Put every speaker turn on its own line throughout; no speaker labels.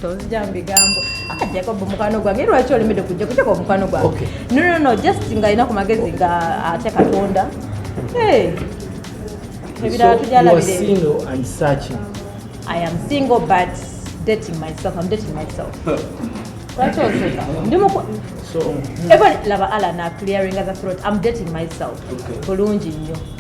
tozija
mubigambo ah, jacob mukwano gwange lwaki olemedde kujja kujako omukwano gwange nonono just nga alina ku magezi nga atya katonda ebirala tujalabiraiam single but dating myself am dating myself lwaki oseka ndi muku
even
laba ala na clearing as a throat am dating myself bulungi nnyo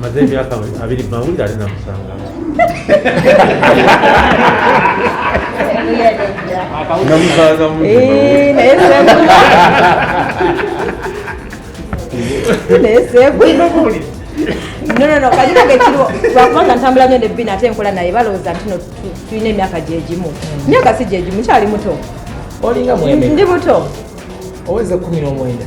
maze
emyaka abiri mawulire ali namusanga
nonono kajirage kiriwo lwakubanga ntambula nyo nebbina ate nkola naye balowooza nti no tulina emyaka gyegimu myaka si gyegimu kyali muto
ndi muto
oweza
kumi nomwenda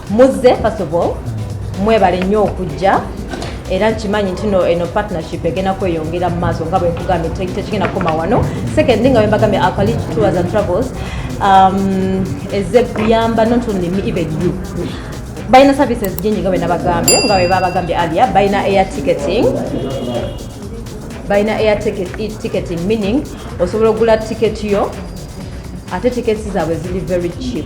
muzze first of all mwebale nnyo okujja era nkimanyi ntino eno partnership egenda kweyongera mu maaso nga bwenkugambye tekigenda kukoma wano second nga wembagambye alkali tours and travels um, eze kuyamba not only me even you balina services jingi nga bwenabagambye nga webabagambye alia balina air ticketing balina air ticketing meaning osobola okugula ticket yo ate tickets zaabwe ziri very cheap